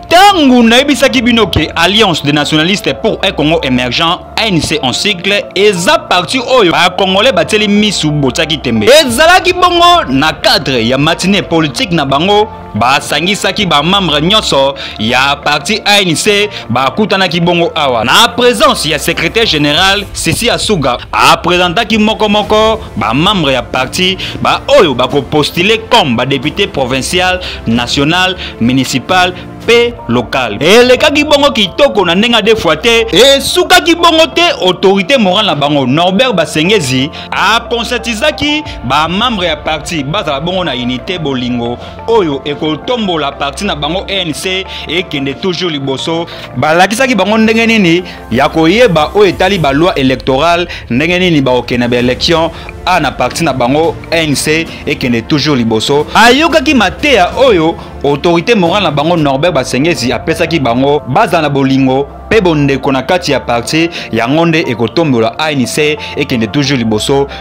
ntango nayebisaki bino ke alliance des nationalistes pour un congo émergent anc en cycle eza parti oyo bakongolais batieli misu botiaki tembe ezalaki bongo na cadre ya matine politique na bango basangisaki bamembre nyonso ya parti anc bakutanaki bongo awa na présence ya secrétaire général sisi asuga apresentaki mokomoko ba membres ya parti ba oyo bako postuler comme ba député provincial national municipal mpe local elekaki bongo kitoko na ndenge de fois te esukaki bongo te autorité morale na bango norbert basengezi aconscientisaki bamembre ya parti bazala bongo na unité bolingo oyo ekotombola parti na bango enc ekende toujours liboso balakisaki bango ndenge nini ya koyeba oyo etali baloi electorale ndenge nini bakokende na baélection a na parti na bango anc ekende toujours liboso ayokaki mateya oyo autorité morale na bango norbert basengezi apesaki bango bazala na bolingo mpe bondeko na kati ya parti yango nde ekotombola anc ekende toujours liboso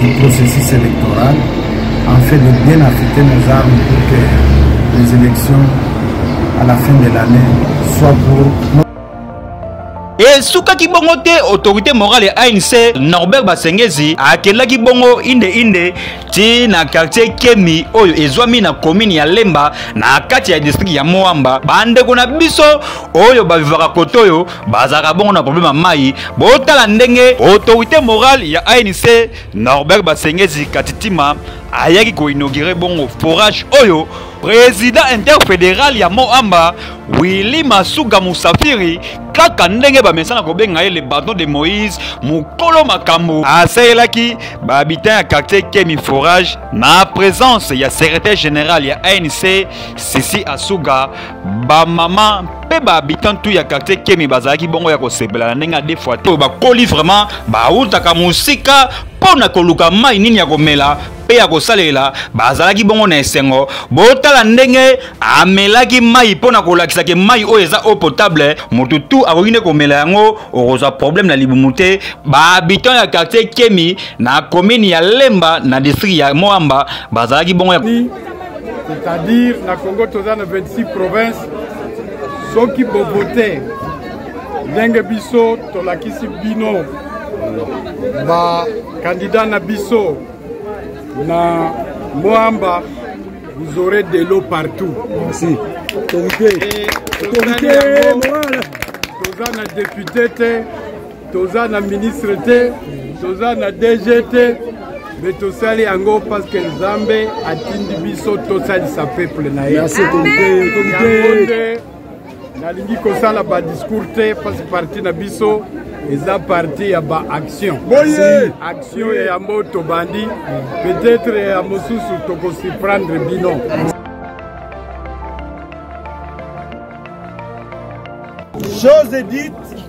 du processus électoral en fait de bien affecter nos armes pour que les élections à la fin de l'année soient pour esukaki bongo te autorité morale ya anc norbert basengezi akelaki bongo inde inde ti na quartier kemi oyo ezwami na komini ya lemba na kati ya distrikte ya moamba bandeko na biso oyo bavivaka kote oyo bazalaka bongo na problème ya mai botala ndenge autorité morale ya anc norbert basengezi katitima ayaki koinaugure bongo forage oyo président interfédéral ya moamba willi masuga musafiri kaka ndenge bamesana kobenga ye le baton de moïse mokolo makambo asalelaki bahabitant ya quartier kemi forage na présence ya secrétaire général ya anc sisi asuga ba mama mpe ba habitant tout ya quartier kemi bazalaki bongo ya kosepela na ndenge ya de fois oyo bakoli vraiment bautaka mosika mpo na koluka mai nini ya komela mpe ya kosalela bazalaki bongo na esengo botala ndenge amelaki mai mpo na kolakisa ke mai oyo eza eau potable motu tu akoki nde komela yango okozwa problème na libumu te bahabitant ya quartier kemi na commune ya lemba na district ya moamba bazalaki bongo ya c'est-à-dire na congo toza na 26 province soki bobote ndenge biso tolakisi bino bakandida na biso na moamba vous aurez de l'eau partout merci toza na depute te toza na ministre te toza na dg te me tosali yango parceke nzambe atindi biso tosalisa peuple na ye yango nde nalingi kosala badiscour te parce parti na biso eza parti ya baaction boye action ya yango tobandi peut-être ya mosusu tokosurprendre bino chose dite